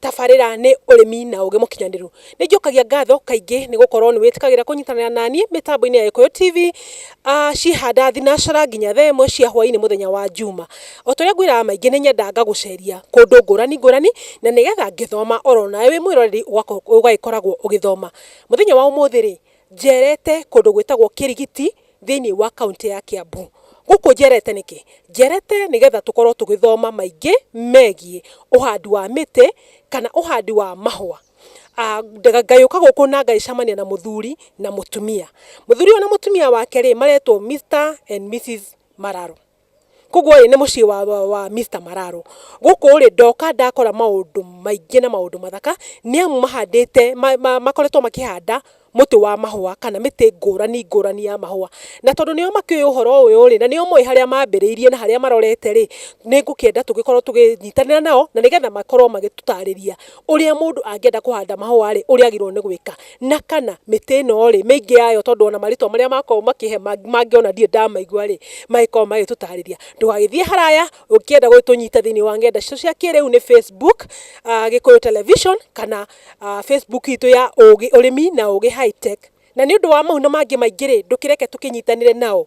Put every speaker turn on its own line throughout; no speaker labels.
tabarĩra nĩ ũrĩmi na ũgĩ mũkinyanĩru. Nĩ njokagia ngatho kaingĩ nĩ gũkorwo nĩ wĩtĩkagĩra kũnyitanĩra naniĩ mĩtambo-inĩ ya Gĩkũyũ TV, ciĩhanda thinacara nginya thaa ĩmwe cia hwainĩ mũthenya wa njuma. O ta ũrĩa ngwĩraga maingĩ nĩ nyendaga ngagũceria kũndũ ngũrani ngũrani, na nĩgetha ngĩthoma oro nawe wĩ mwĩroreri ũgagĩkoragwo ũgĩthoma. Mũthenya wa ũmũthĩ rĩ, njerete kũndũ gwĩtagwo Kĩrigiti, thĩinĩ wa kaũntĩ ya Kiambu. Gũkũ njerete nĩkĩ? Njerete nĩgetha tũkorwo tũgĩthoma maingĩ megiĩ ũhandi wa mĩtĩ kana ũhandi wa mahũa. Ngagĩũka gũkũ na ngagĩcemania na mũthuri na mũtumia. Mũthuri ũyũ na mũtumia wake rĩ, maretwo Mister and Missus Mararo. Koguo rĩ, nĩ mũciĩ wa Mister Mararo. Gũkũ rĩ, ndoka ndakora maũndũ maingĩ na maũndũ mathaka, nĩ amu mahandĩte, makoretwo makĩhanda mũtĩ wa mahũa kana mĩtĩ ngũrani ngũrani ya mahũa. Na tondũ nĩo makĩũĩ ũhoro ũyũ rĩ, na nĩo moĩ harĩa mambĩrĩirie na harĩa marorete rĩ, nĩ ngũkĩenda tũgĩkorwo tũgĩnyitanĩra nao, na nĩgetha makorwo magĩtũtarĩria ũrĩa mũndũ angĩenda kũhanda mahũa rĩ, ũrĩa agĩrĩirwo nĩ gwĩka. Na kana mĩtĩ ĩno-rĩ, mĩingĩ yayo tondũ ona marĩtwa marĩa makoragwo makĩhe mangĩ ona ndirĩ ndamaigua-rĩ, magĩkoragwo magĩtũtarĩria. Ndũgagĩthiĩ haraya ũkĩenda gũgĩtũnyita thĩiniĩ wa ng'enda citũ cia kĩrĩu nĩ Facebook, Gĩkũyũ Television, kana Facebook itũ ya Ũgĩ, Ũrĩmi na Ũgĩ High Tech. Na nĩũndũ wa mau na mangĩ maingĩ-rĩ, ndũkĩreke tũkĩnyitanĩre nao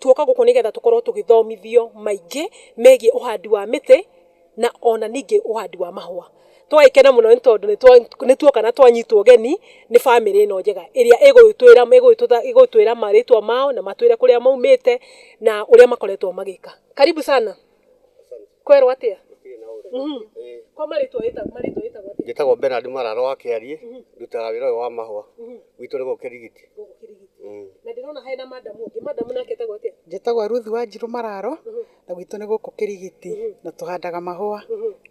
Tuoka gũkũ nĩ getha tũkorwo tũgĩthomithio maingĩ megiĩ ũhandi wa mĩtĩ na ona ningĩ ũhandi wa mahũa. Twagĩkena mũno nĩ tondũ nĩ tuoka na twanyitwo ũgeni nĩ bamĩrĩ ĩno njega ĩrĩa ĩgũtwĩra marĩtwa mao na matwĩre kũrĩa maumĩte na ũrĩa makoretwo magĩka. Karibu sana. kwerwo atia Mhm. kwa marĩtwa wĩtagwo marĩtwa wĩtagwo atia njĩtagwo benard marara wa kĩariĩ ndutaga wĩra ũyũ wa mahũa gwitũ nĩ gũkũ kĩrigiti gũkũ kĩrigiti na ndĩrona hena madamu ũngĩ madamu nake etagwo atia njĩtagwo Ruth wa Njirũ Mararo na gwitũ nĩ gũkũ Kĩrigiti na tũhandaga mahũa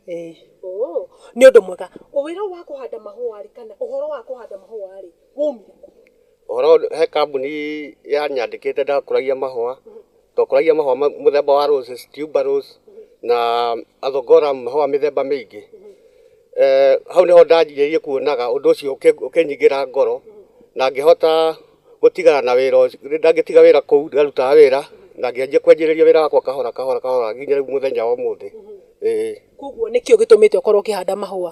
ĩĩ Oh, nĩ ũndũ mwega wĩra ũyũ wa kũhanda mahũa rĩ kana ũhoro wa kũhanda mahũa rĩ waumire kũ Ũhoro he kambuni yanyandĩkĩte ndakũragia mahũa, twakũragia mahũa mũthemba wa roses, tuber rose na athongora mahũa mĩthemba mĩingĩ. Hau nĩho ndanjĩrĩirie kuonaga ũndũ ũcio ũkĩnyingĩra ngoro na ngĩhota gũtigana na wĩra ũcio, ndangĩtiga wĩra kũu ndarutaga wĩra na ngĩanjia kwanjĩrĩria wĩra wakwa kahora kahora kahora nginya rĩu mũthenya wa ũmũthĩ, ĩĩ. Kũguo nĩkĩo gĩtũmĩte ũkorwo ũkĩhanda mahũa?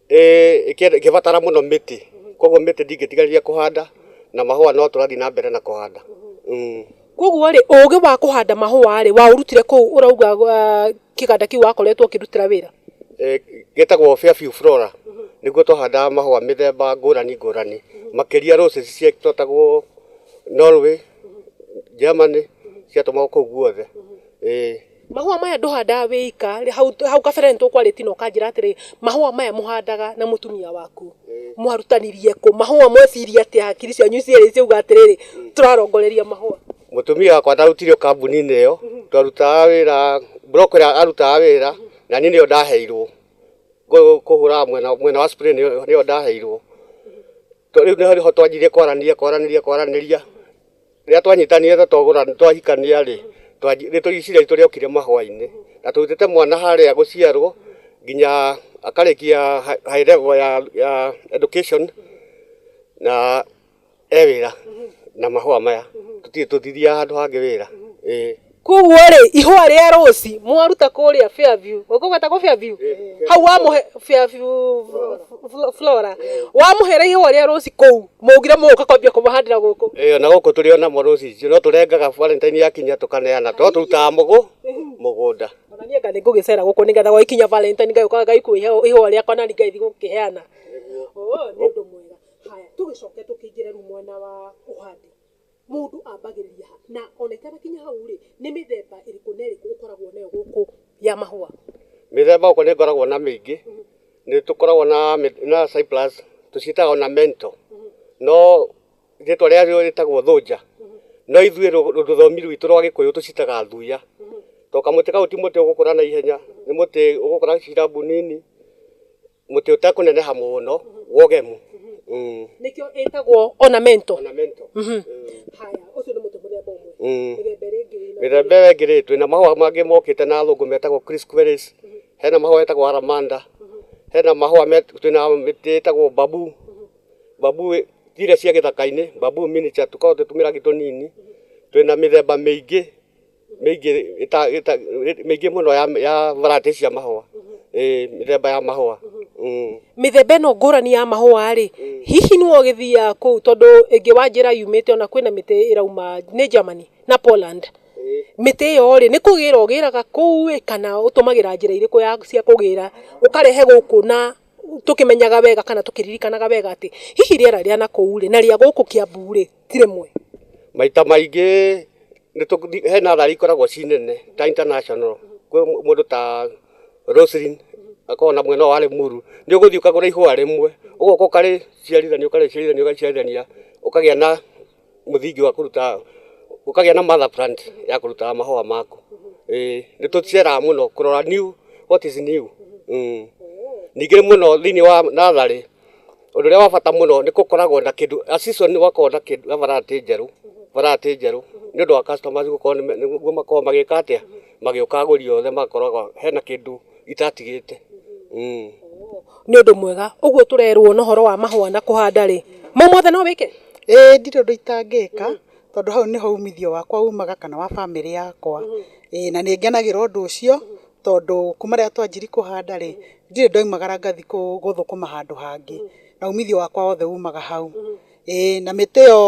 ĩkĩbatara mũno mĩtĩ koguo mĩtĩ ndingĩtiganĩria kũhanda na mahũa no tũrathiĩ na mbere na kũhanda. Koguo rĩ ũgĩ wa kũhanda mahũa rĩ waũrutire kũu ũrauga kĩganda kĩu wakoretwo ũkĩrutĩra wĩra? Gĩtagwo Fairview Flora, nĩkuo twahandaga mahũa mĩthemba ngũrani ngũrani makĩria roses iria ciĩtagwo Norway, Germany ciatũmagwo kũu guothe. Mahũa maya ndũhandaga wĩ ika, hau, hau kabere nĩ tũkwarĩti na ũkanjĩra atĩrĩ, mahũa maya mũhandaga na mũtumia waku mwarutanirie kũ? Mahũa mweciria atĩa hakiri cianyu cierĩ ciauga atĩrĩrĩ, tũrarongoreria mahũa? Mũtumia wakwa ndarutirio kambuni-inĩ ĩyo, twarutaga wĩra, block ĩrĩa arutaga wĩra, na niĩ nĩyo ndaheirwo kũ- kũhũraga mwena, mwena wa spray nĩyo nĩyo ndaheirwo. Tondũ rĩu nĩho nĩho twanjirie kwaranĩria kwaranĩria kwaranĩria. Rĩrĩa twanyitanire na twagũra twahikania-rĩ, rĩtwa Isiraeli ritũ rĩokire mahũa-inĩ, na tũrutĩte mwana harĩa gũciarwo nginya akarĩkia high level ya education na e wĩra na mahũa maya. Tũtirĩ tũthiria handũ hangĩ wĩra. Koguo rĩ, ihũa rĩa rũci mwaruta kũrĩa Fairview, ũguo gwetagwo Fairview? Hau wamũhe Fairview Flo- Flora. Wamũhere ihũa rĩa rũci kũu, mũgire mũgũka kwambia kũmahandĩra gũkũ. ĩyo na gũkũ tũrĩ onamo rũcicio no tũrengaga valentine yakinya tũkaneana to tũrutaga mũgũ mũgũnda Ona niĩ nga nĩ ngũgĩcera gũkũ nĩgetha gwagĩkinya Valentine ngagĩũka ngaikuo ihũa rĩakwa nani ngagĩthiĩ gũkĩheana. Oo, nĩ ũndũ mwega. Haya, tũgĩcoke tũkĩingĩre rĩu mwena wa ũhandi. Mũndũ ambagĩrĩria ha? Na ona itanakinya hau rĩ, nĩ mĩthemba ĩrĩkũ na ĩrĩkũ ũkoragwo nayo gũkũ ya mahũa? Mĩthemba gũkũ nĩ ngoragwo na mĩingĩ, nĩ tũkoragwo na na cyprus, tũciĩtaga ornamental, no rĩtwa rĩa rĩo rĩtagwo thũnja, no ithuĩ rũthiomi rwitũ rwa gĩkũyũ tũciĩtaga thuya, to kamũtĩ kau ti mũtĩ ũgũkũra naihenya, nĩ mũtĩ ũgũkũra cirambũ nini. Mũtĩ ũtekũneneha mũno wa ũgemu. Mm. nĩkĩo ĩtagwo ornamental Ornamental. Mm. haya ũcio nĩ mũtĩ mũthemba ũmwe Mm. mĩthemba ĩrĩa ĩngĩ ĩna- mĩthemba ĩyo ĩngĩ rĩ twĩ na mahũa mangĩ mokĩte na thũngũ metagwo crisqueris hena mahũa etagwo aramanda hena mahũa met- twĩ na mĩtĩ ĩtagwo babu babu ĩ- ti iria cia gĩthaka-inĩ babu miniature tũkoragwo twĩ tũmĩrangi tũnini twĩ na mĩthemba mĩingĩ mĩingĩ ĩta, ĩta, mĩingĩ mũno ya, ya varati cia mahũa ĩĩ mĩthemba ya mahũa mm. mĩthemba ĩno ngũrani ya mahũa rĩ hihi nĩ ũgĩthiaga kũu tondũ ĩngĩ wa njĩra yumĩte ona kwĩna mĩtĩ ĩrauma nĩ Germany na Poland mĩtĩ ĩyo rĩ nĩ kũgĩra ũgĩraga kũu ĩ kana ũtũmagĩra njĩra irĩkũ ya cia kũgĩra ũkarehe gũkũ na tũkĩmenyaga wega kana tũkĩririkanaga wega atĩ hihi rĩera rĩa na kũu rĩ na rĩa gũkũ Kiambu rĩ ti rĩmwe. Maita maingĩ he natharĩ ikoragwo ci nene ta international, kwĩ mũndũ ta Roselyn akoragwo na mwena ũyũ wa Limuru, nĩ ũgũthiĩ ũkagũra ihũa rĩmwe ũgoka ũkarĩciarithania ũkarĩciarithania ũkarĩciarithania ũkagĩa na mũthingi wa kũruta, ũkagĩa na mother plant ya kũruta mahũa maku. Ĩĩ nĩ tũceraga mũno kũrora new what is new. Ningĩ mũno thĩinĩ wa natharĩ Ũndũ ũrĩa wa bata mũno nĩ gũkoragwo na kĩndũ a season gũgakorwo na kĩndũ na varati njerũ, varati njerũ nĩ ũndũ wa customers gũkorwo nĩ nĩguo makoragwo magĩka atĩa? Magĩũka agũri othe magakoragwo hena kĩndũ itatigĩte. Nĩ ũndũ mwega. Ũguo tũrerwo na ũhoro wa mahũa na kũhanda rĩ, mau mothe no wĩke? Ĩĩ ndirĩ ũndũ itangĩka, tondũ hau nĩho umithio wakwa umaga kana wa bamĩrĩ yakwa. Ĩĩ na nĩ ngenagĩra ũndũ ũcio, tondũ kuma rĩrĩa twanjirie kũhanda rĩ, ndirĩ ndaumagara ngathi gũthũkũma handũ hangĩ, na umithio wakwa wothe umaga hau. Ĩĩ na mĩtĩ ĩyo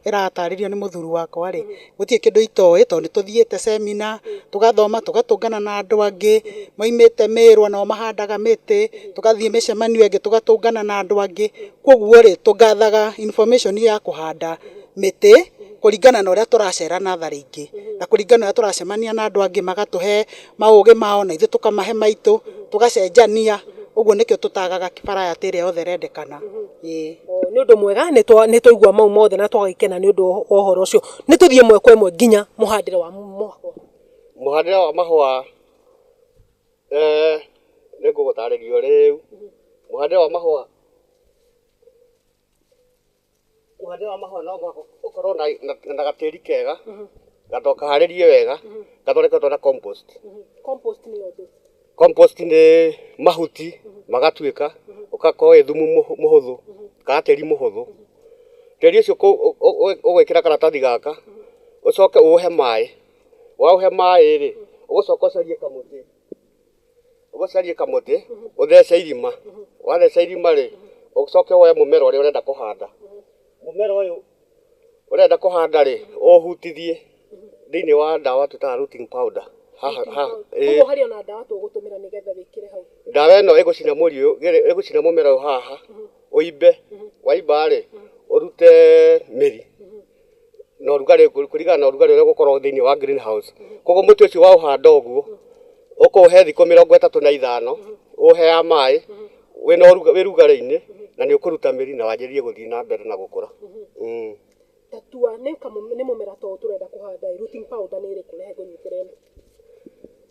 ĩratarĩrio nĩ mũthuri wakwa rĩ, gũtirĩ kĩndũ itoĩ tondũ nĩ tũthiĩte cemina, tũgathoma, tũgatũngana na andũ angĩ maumĩte Mĩrũ onao mahandaga mĩtĩ, tũgathiĩ mĩcemanio ĩngĩ tũgatũngana na andũ angĩ, koguo rĩ, tũgathaga information ya kũhanda mĩtĩ. kũringana na ũrĩa tũracera natharĩ ingĩ na kũringana na ũrĩa tũracemania na andũ angĩ magatũhe maũgĩ mao na ithuĩ tũkamahe maitũ tũgacenjania ũguo nĩkĩo tũtagaga variety ĩrĩa yothe ĩrendekana. Ĩĩ. Nĩ ũndũ mwega nĩ twa nĩ twaigua mau mothe na twagĩkena nĩ ũndũ wa wa ũhoro ũcio. Nĩ tũthiĩ ĩmwe kwa ĩmwe nginya mũhandĩre wa mahũa. Mũhandĩre wa mahũa nĩ ngũgũtarĩria o rĩu. Mũhandĩre wa mahũa... Ũhandi wa mahũa no mũhaka ũkorwo na gatĩri kega, gakorwo kaharĩrie wega, gathondeketwo na compost. Compost nĩ mahuti magatuĩka, ũgakorwo wĩ thumu mũhũthũ, ka gatĩri mũhũthũ. Tĩri ũcio ũgwĩkĩra karatathi gaka, ũcoke ũũhe maĩ, waũhe maĩ-rĩ, ũgũcoka ũcarie kamũtĩ. ũcarie kamũtĩ ũthece irima, watheca irima rĩ, ũcoke woe mũmera ũrĩa ũrenda kũhanda. Mũmera ũyũ ũrenda kũhanda rĩ, ũũhutithie thĩiniĩ wa ndawa twĩtaga rooting powder. Ndawa ĩno ĩgũcina mũri ũyũ, ĩgũcina mũmera ũyũ haha ũimbe, waimba rĩ, ũrute mĩri. na ũrugarĩ kũringana na ũrugarĩ ũrĩa ũgũkorwo thĩinĩ wa green house koguo mũtĩ ũcio waũhanda ũguo ũkũũhe thikũ mĩrongo ĩtatũ na ithano ũũheaga maĩ wĩna ũruga- wĩ rugarĩ-inĩ na nĩ ũkũruta mĩri na wanjĩrĩrie gũthiĩ na mbere na gũkũra Mm. Tatua nĩ kamũ- nĩ mũmera ta ũyũ tũrenda kũhanda ĩ, rooting powder nĩ ĩrĩkũ rehe ngũnyitĩrĩre?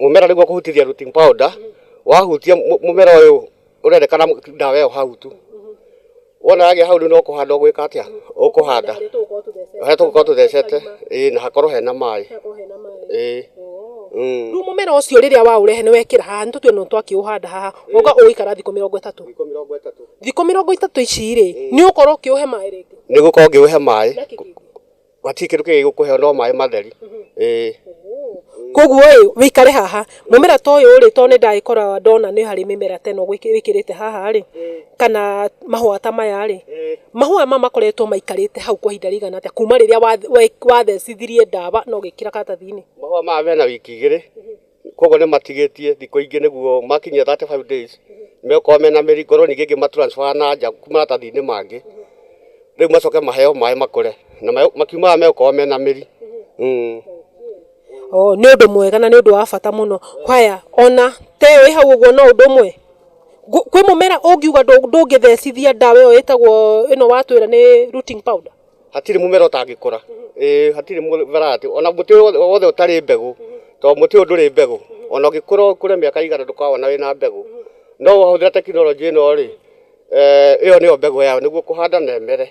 mũmera nĩguo kũhutithia rooting powder wahutia mũ- mũmera ũyũ ũrendekana mũ- ndawa ĩyo hau tu wona yagĩa hau rĩu no kũhanda ũgwĩka atĩa ũkũhanda harĩa tũgũkorwo tũthecete ĩĩ na hakorwo hena maĩ ĩĩ Mm. rĩu mũmera ũcio rĩrĩa waũrehe nĩ wekĩra haha nĩ tũtue nĩ twakĩũhanda haha ũga ũgũikara thikũ mĩrongo ĩtatũ thikũ mĩrongo ĩtatũ ici rĩ nĩ ũkorwo ũkĩũhe maĩ rĩngĩ nĩ gũkorwo ngĩũhe maĩ Gwatirĩ kĩndũ kĩngĩ gĩgũkũheo no maĩ matheri. Ĩĩ. Koguo ĩ wĩikare haha mũmera ta ũyũ rĩ tondũ nĩ ndagĩkora ndona nĩ harĩ mĩmera ta ĩno gwĩkĩ- wĩkĩrĩte haha rĩ kana mahũa ta maya rĩ mahũa maya makoretwo maikarĩte hau kwa ihinda rĩigana atĩa kuma rĩrĩa wath- we- wathecithirie ndawa na ũgĩkĩra karatathi-inĩ. Mahũa maya mena wiki igĩrĩ koguo nĩ matigĩtie thikũ ingĩ nĩguo makinyia 35 days megũkorwo mena mĩri ngorwo ningĩ ngĩma transfer na nja maratathi-inĩ mangĩ, rĩu macoke maheo maĩ makũre na makiumaga megũkorwo mena mĩri. Nĩ ũndũ mwega na nĩ ũndũ wa bata mũno. Haya ona ta ĩyo ĩ hau ũguo no ũndũ ũmwe, kwĩ mũmera ũngiuga ndũngĩthecithia ndawa ĩyo ĩtagwo ĩno watwĩra nĩ rooting powder? hatirĩ mũmera ũtangĩkũra ĩĩ hatirĩ mũmera atĩ ona mũtĩ wothe wothe ũtarĩ mbegũ tondũ mũtĩ ũyũ ndũrĩ mbegũ ona ũngĩkũra ũkũre mĩaka igana ndũkawona wĩna mbegũ no wahũthĩra tekinoronjĩ ĩno rĩ eh, ĩyo nĩyo mbegũ yayo nĩguo kũhanda na ĩmere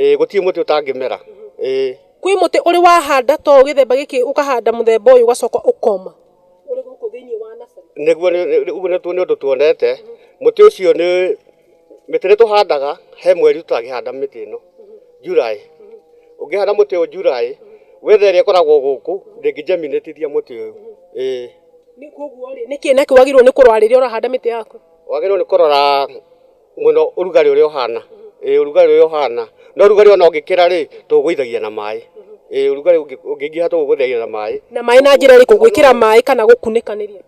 ĩĩ gũtirĩ mũtĩ ũtangĩmera ĩĩ kwĩ mũtĩ ũrĩ wahanda to gĩthemba gĩkĩ ũkahanda mũthemba ũyũ ũgacoka ũkoma ũrĩ gũkũ thĩinĩ wa nasarĩ nĩguo nĩ- nĩ- ũguo nĩ nĩ ũndũ tuonete mũtĩ ũcio nĩ Mĩtĩ nĩ tũhandaga he mweri tũtangĩhanda mĩtĩ ĩno, July. Ũngĩhanda mũtĩ ũyũ July, weather ĩrĩa ĩkoragwo gũkũ ndĩngĩ germinate ithia mũtĩ ũyũ. Ĩĩ. Nĩ kũguo rĩ, nĩ kĩĩ nakĩo wagĩrĩirwo nĩ kũrora rĩrĩa ũrahanda mĩtĩ yaku? Wagĩrĩirwo nĩ kũrora mũno ũrugarĩ ũrĩa ũhana. Ĩĩ ũrugarĩ ũrĩa ũhana. No ũrugarĩ ona ũngĩkĩra rĩ, tũũgũithagia na maĩ. Ĩĩ ũrugarĩ ũngĩingĩha tũũgũithagia na maĩ. Na maĩ na njĩra ĩrĩkũ? Gwĩkĩra maĩ kana gũkunĩkanĩria?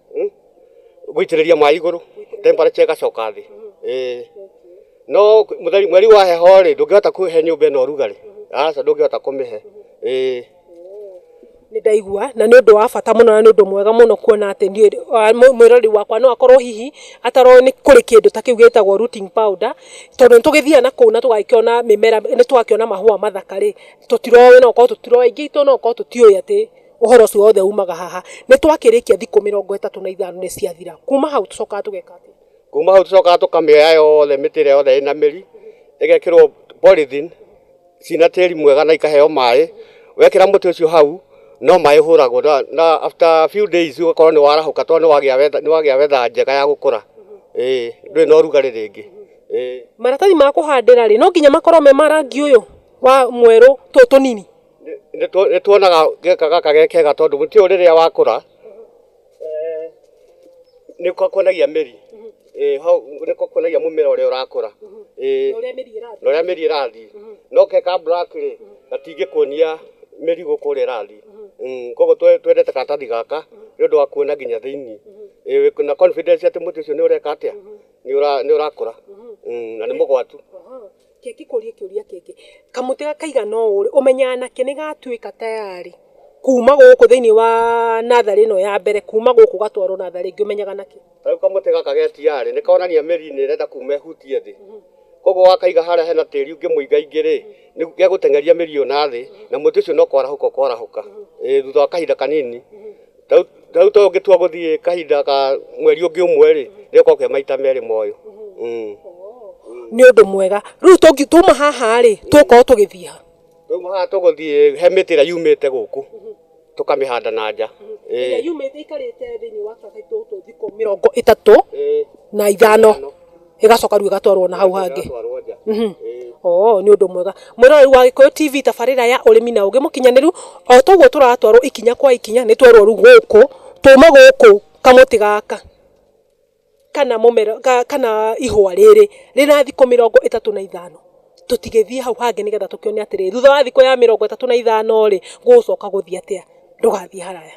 gũitĩrĩria maĩ igũrũ temperature ĩgacoka thĩ ĩĩ no mũtheri- mweri wa heho rĩ ndũngĩhota kũhe nyũmba ĩno ũrugarĩ aca ndũngĩhota kũmĩhe ĩĩ nĩ ndaigua na nĩ ũndũ wa bata mũno na nĩ ũndũ mwega mũno kuona atĩ nĩ ũrĩ- wa- mũ- mwĩrori wakwa no akorwo hihi ataroĩ nĩ kũrĩ kĩndũ ta kĩu gĩtagwo rooting powder tondũ nĩ tũgĩthiaga na kũu na tũgakĩona mĩmera nĩ twakĩona mahũa mathaka rĩ tũtiroĩ no gũkorwo tũtiroĩ aingĩ aitũ no gũkorwo tũtiũĩ atĩ Ũhoro ũcio wothe umaga haha. Nĩ twakĩrĩkia thikũ mĩrongo ĩtatũ na ithano nĩ ciathira. Kuuma hau tũcokaga tũgeka atĩa? Kuuma hau tũcokaga tũkamĩoya yothe mĩtĩ ĩrĩa yothe ĩna mĩri, ĩgekĩrwo polythene ciĩna tĩri mwega na ikaheo maĩ. Wekĩra mũtĩ ũcio hau, no maĩ ũhũragwo na after a few days ũgakorwo nĩ warahũka tondũ nĩ wagĩa weather njega ya gũkũra. Ĩĩ ndũrĩ na ũrugarĩ rĩngĩ. Maratathi ma kũhandĩra rĩ, no nginya makorwo me ma rangi ũyũ wa mwerũ tũtũ tũnini? Nĩtuonaga geka gaka ge kega tondũ mũtĩ ũyũ rĩrĩa wakũra nĩũkuonagia mĩri, hau nĩũkuonagia mũmera ũrĩa ũrakũra na ũrĩa mĩri ĩrathiĩ, no ge ka black rĩ gatingĩkuonia mĩri gũkũ ũrĩa ĩrathiĩ, koguo twendete karatathi gaka nĩũndũ wa kuona nginya thĩiniĩ, wĩna confidence atĩ mũtĩ ũcio nĩũreka atĩa, nĩũrakũra na nĩ mũgwatu. Reke ngĩkũrie kĩũria kĩngĩ, kamũtĩ gaka kaigana ũũ rĩ, ũmenyaga nakĩ nĩ gatuĩka tayari kuuma gũkũ thĩinĩ wa natharĩ ĩno ya mbere, kuuma gũkũ gatwarwo natharĩ ĩngĩ, ũmenyaga nakĩ? Ta rĩu kamũtĩ gaka ge tiyarĩ, nĩ konania mĩri nĩ ĩrenda kuuma ĩhutie thĩ. Kwoguo wakaiga harĩa hena tĩri ũngĩmũingaingĩ rĩ, gegũteng'eria mĩri ĩyo nathĩ, na mũtĩ ũcio no kwarahũka ũkwarahũka, ĩĩ thutha wa kahinda kanini. Rĩu- rĩu tũngĩtua gũthiĩ kahinda ka mweri ũngĩ ũmwe rĩ nĩgũkorwo ke maita merĩ moyo Mm. nĩ ũndũ mwega rĩu tũngi- tuma haha rĩ tũkorwo tũgĩthiĩ ha rĩu haha tũgũthiĩ he mĩtĩ ĩrĩa yumĩte gũkũ tũkamĩhanda na nja Ĩĩ. yumĩte ikarĩte thĩinĩ wa tũthikũ tũthikũ mĩrongo ĩtatũ Ĩĩ. na ithano ĩgacoka rĩu ĩgatwarwo na hau hangĩ Ĩgatwarwo nja. Mhm. Ĩĩ. oo nĩ ũndũ mwega mwĩroreri wa gĩkũyũ tv tabarĩra ya ũrĩmi na ũgĩ mũkinyanĩru o toguo tũratwarwo ikinya kwa ikinya nĩ twerwo rĩu gũkũ tũme gũkũ kamũtĩ gaka kana mũmera ka- kana ihũa rĩrĩ rĩna thikũ mĩrongo ĩtatũ na ithano tũtigĩthiĩ hau hangĩ nĩgetha tũkĩone atĩrĩ thutha wa thikũ ya mĩrongo ĩtatũ na ithano rĩ gũgũcoka gũthiĩ atĩa ndũgathiĩ haraya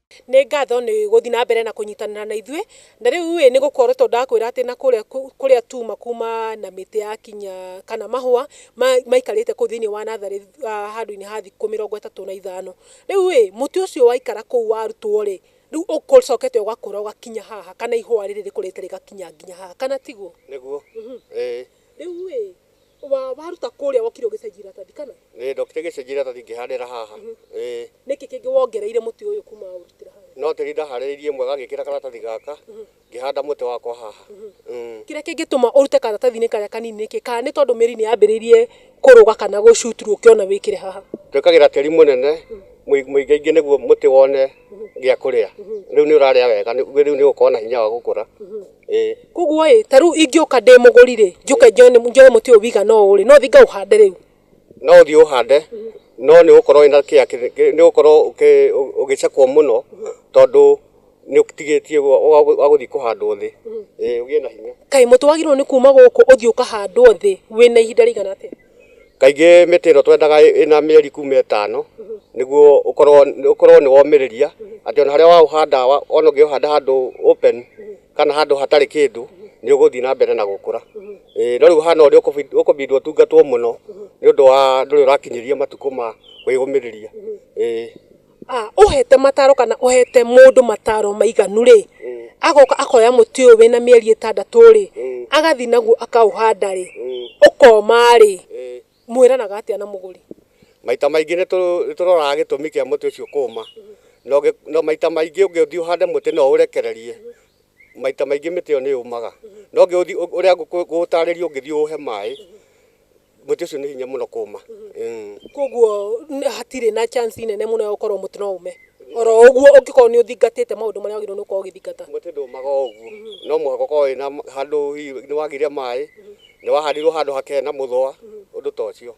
Nĩ ngatho nĩ gũthiĩ na mbere na kũnyitanĩra na ithuĩ. Na rĩu ĩ, nĩ gũkorwo to ndakwĩra atĩ na kũrĩa kũrĩa tuma kuma na mĩtĩ ya kinya kana mahũa maikarĩte kũu thĩinĩ wa natharĩ handũ-inĩ ha thikũ mĩrongo ĩtatũ na ithano. Rĩu ĩ, mũtĩ ũcio waikara kũu warutwo rĩ, rĩu ũcokete ũgakũra ũgakinya haha kana ihũa rĩrĩ rĩkũrĩte rĩgakinya nginya haha. Kana tiguo? Nĩguo, ĩĩ. Rĩu ĩ, wa, waruta kũrĩa wokire ũgĩcenjia iratathi kana? Ĩĩ, ndokire ngĩcenjia iratathi ngĩhandĩra haha. Ĩĩ. Nĩkĩ kĩngĩ wongereire mũtĩ ũyũ kuma waũrutĩra harĩa? No tĩri ndaharĩrĩirie mwega ngĩkĩra karatathi gaka, ngĩhanda mũtĩ wakwa haha. Umm. Kĩrĩa kĩngĩtũma ũrute karatathi-inĩ karĩa kanini nĩkĩ? Kana nĩ tondũ mĩri nĩ yambĩrĩirie kũrũga kana gũ shoot through ũkĩona wĩkĩre haha? Twĩkagĩra tĩri mũnene, mũi, mũingaingĩ nĩguo mũtĩ wone gĩa kũrĩa. Rĩu nĩ ũrarĩa wega, rĩu nĩ ũgũkorwo na hinya wa gũkũra. Koguo ĩ, ta rĩu ingĩũka ndĩ mũgũri rĩ, njũke njoe mũtĩ ũyũ wigana ũũ rĩ, no thiĩ ngaũhande rĩu? No ũthiĩ ũũhande, no nĩ ũgũkorwo wĩna kĩa, nĩ ũgũkorwo ũgĩcekwo mũno tondũ nĩ ũtigĩtie wa gũthiĩ kũhandwo thĩ, ũgĩe na hinya. Kaĩ mũtĩ wagĩrĩirwo nĩ kuuma gũkũ ũthiĩ ũkahandwo thĩ wĩna ihinda rĩigana atĩa? Kaingĩ mĩtĩ ĩno twendaga ĩna mĩeri kuma ĩtano nĩguo ũkorwo ũkorwo nĩ womĩrĩria atĩ ona harĩa waũhanda ona ũngĩũhanda handũ open kana handũ hatarĩ kĩndũ nĩ ũgũthiĩ na mbere na gũkũra. No rĩu ũhana ũrĩa ũkũbidi ũtungatwo mũno nĩ ũndũ wa ndũrĩ ũrakinyĩria matukũ ma kwĩyũmĩrĩria. Ah, ũhete mataro kana ũhete mũndũ mataro maiganu rĩ agoka akoya mũtĩ ũyũ wĩna mĩeri ĩtandatũ rĩ agathiĩ naguo akaũhanda rĩ ũkoma rĩ mwĩranaga atĩa na mũgũri Maita maingĩ nĩ tũ- nĩ tũroraga gĩtũmi kĩa mũtĩ ũcio kũũma. Na ũngĩ- na maita maingĩ ũngĩthiĩ ũhande mũtĩ na ũũrekererie, maita maingĩ mĩtĩ ĩyo nĩ yũmaga. Na ũngĩũthi- ũrĩa ngũkũ- ngũgũtarĩria ũngĩthiĩ ũũhe maĩ, mũtĩ ũcio nĩ hinya mũno kũma Mm. koguo n- hatirĩ na chance nene mũno ya gũkorwo mũtĩ no ume oro ũguo ũngĩkorwo nĩ ũthingatĩte maũndũ marĩa wagĩrĩirwo nĩ gũkorwo ũgĩthingata mũtĩ ndũmaga o ũguo no mũhaka ũkorwo wĩna handũ hihi nĩ wagire maĩ nĩ wahandirwo handũ hakee na mũthũa ũndũ ta ũcio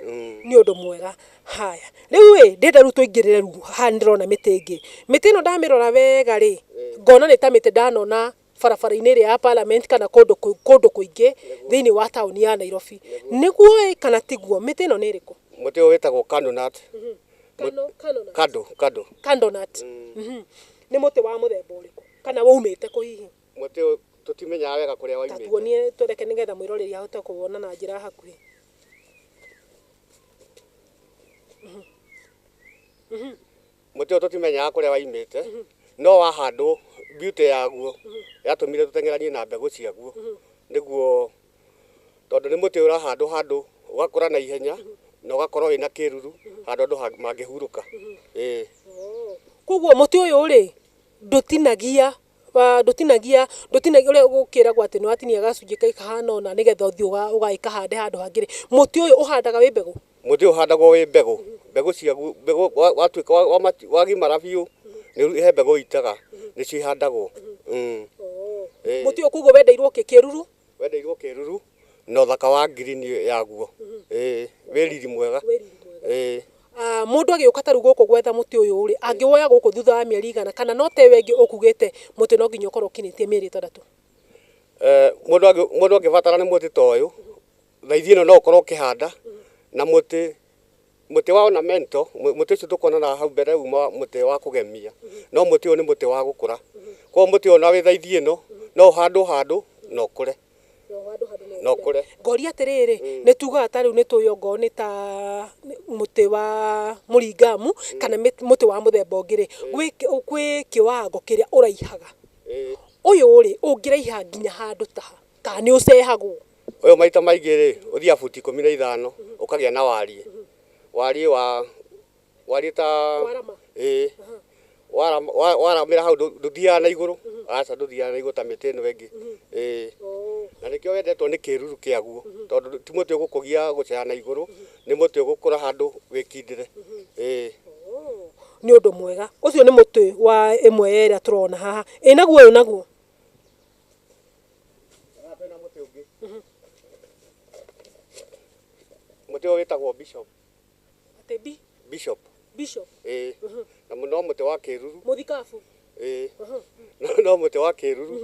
Mm. nĩ ũndũ mwega haya rĩu ĩ ndĩrenda rĩu tũingĩrĩre rĩu haha nĩ ndĩrona mĩtĩ ĩngĩ mĩtĩ ĩno ndamĩrora wega rĩ ngona nĩ ta mĩtĩ ndanona barabara-inĩ ĩrĩa ya parliament kana kũndũ kũ- kũndũ kũingĩ thĩinĩ wa taũni ya nairobi nĩguo ĩ kana tiguo mĩtĩ ĩno nĩ ĩrĩkũ muti uyu witagwo candonut Kano- candonut. kado kado candonut Mhm. nĩ mũtĩ wa mũthemba ũrĩkũ kana waumĩte kũ hihi muti uyu tutimenyaga wega kuria waimite tatuonie twereke nĩgetha mwĩroreri ahote kũwona na njĩra hakuhĩ Mũtĩ ũyũ tũtimenyaga kũrĩa waimĩte, no wahandwo beauty yaguo yatũmire tũteng'eranie na mbegũ ciaguo, nĩguo tondũ nĩ mũtĩ ũrahandwo handũ ũgakũra na ihenya na ũgakorwo wĩna kĩruru handũ andũ mangĩhurũka. Ĩĩ. Koguo mũtĩ ũyũ rĩ, ndũtinagia ndũtinagia, ndũtinagia ũrĩa gũkĩragwo atĩ nĩ watinia gacunjĩ kahana ũna nĩ getha ũthiĩ ũgathiĩ ũkahande handũ hangĩ rĩ, mũtĩ ũyũ ũhandaga wĩ mbegũ? Mũtĩ ũyũ ũhandagwo wĩ mbegũ, mbegũ ciaguo, mbegũ watuĩka wa matu wagimara biũ, nĩ he mbegũ ũitaga, nĩ cio ihandagwo. Mũtĩ ũyũ koguo wendeirwo kĩ, kĩruru? Wendeirwo kĩruru na ũthaka wa green yaguo. Ĩĩ, wĩ riri mwega. Ĩĩ. Ah, mundu agiuka taru guku gwetha muti uyu ri angiwoya guku thutha wa mieri igana kana no ta iyo ingi ukugite muti no nginya ukorwo ukinitie mieri itandatu Eh, mundu angi mundu angibatara ni muti ta uyu Thaithi ĩno no ũkorwo ũkĩhanda na mũtĩ mũtĩ wa ornamento mũtĩ ũcio tũkuonana hau mbere uma mũtĩ wa kũgemia no mũtĩ ũyũ nĩ mũtĩ wa gũkũra koguo mũtĩ ũyũ na wĩ thaithi ĩno no ũhandwo handũ na ũkũre na ũkũre. Ngoria atĩrĩrĩ nĩ tugaga ta rĩu nĩ tũĩ ongorwo nĩ ta mũtĩ wa mũringamu kana mũtĩ wa mũthemba ũngĩ rĩ gwĩ kĩwango kĩrĩa ũraihaga ũyũ rĩ ũngĩraiha nginya handũ ta ha kana nĩ ũcehagwo? Ũyũ maita maingĩ rĩ ũthiaga futi ikũmi na ithano ũkagĩa na wariĩ wariĩ wa wariĩ ta ĩĩ waramĩra hau ndũthiaga na igũrũ aca ndũthiaga na igũrũ ta mĩtĩ ĩno ĩngĩ ĩĩ na nĩkĩo wendetwo nĩ kĩruru kĩaguo tondũ ti mũtĩ ũgũkũgia gũcera na igũrũ nĩ mũtĩ ũgũkũra handũ wĩkindĩre ĩĩ. Nĩ ũndũ mwega ũcio nĩ mũtĩ wa ĩmwe ya ĩrĩa tũrona haha ĩĩ naguo ũyũ naguo? Mũtĩ ũyũ wĩtagwo bishop. Atĩ bi? Bishop. Bishop? Ĩĩ. Na no mũtĩ wa kĩruru. Mũthikabu? Ĩĩ. No mũtĩ wa kĩruru.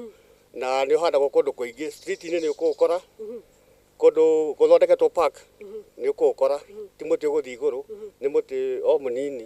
Na nĩ ũhandagwo kũndũ kũingĩ. Street -inĩ nĩ ũkũũkora, kũndũ gũthondeketwo park nĩ ũkũũkora. Ti mũtĩ ũgũthiĩ igũrũ, nĩ mũtĩ o mũnini.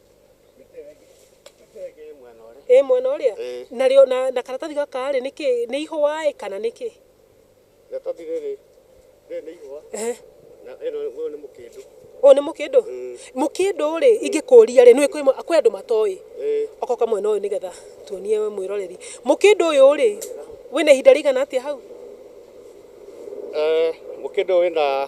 ĩ mwena ũrĩa ĩ mwena ũrĩa Ĩĩ. na rĩo na, na karatathi gaka rĩ nĩ kĩ nĩ ihũa ĩ kana nĩ kĩ gatathi rĩrĩ rĩrĩ nĩ ihũa Ehe. na ĩno ũyũ nĩ mũkĩndũ ũyũ nĩ mũkĩndũ Mm. mũkĩndũ rĩ ingĩkũria rĩ nĩ kwĩ mwe- kwĩ andũ matoĩ ĩĩ okoka mwena ũyũ nĩgetha tuonie we mwĩroreri mũkĩndũ ũyũ rĩ wĩna ihinda rĩigana atĩa hau Eh, mũkĩndũ wĩna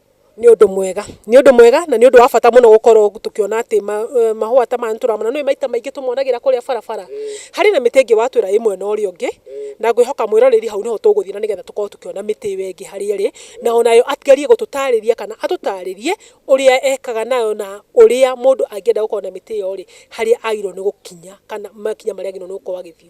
nĩ ũndũ mwega. Nĩ ũndũ mwega na nĩ ũndũ wa bata mũno gũkorwo tũkĩona atĩ mahũa ta maya nĩ tũramona. Nĩ ũĩ maita maingĩ tũmonagĩra kũrĩa barabara. Harĩ na mĩtĩ ĩngĩ watwĩra ĩĩ mwena ũrĩa ũngĩ, na ngwĩhoka mwĩroreri hau nĩho tũgũthiĩ na nĩgetha tũkorwo tũkĩona mĩtĩ ĩyo ĩngĩ harĩa ĩrĩ, na ona yo agerie gũtũtarĩria kana atũtarĩrie ũrĩa ekaga nayo na ũrĩa mũndũ angĩenda gũkorwo na mĩtĩ ĩyo rĩ, harĩa agĩrĩirwo nĩ gũkinya kana makinya marĩa agĩrĩirwo nĩ gũkorwo agĩthiĩ.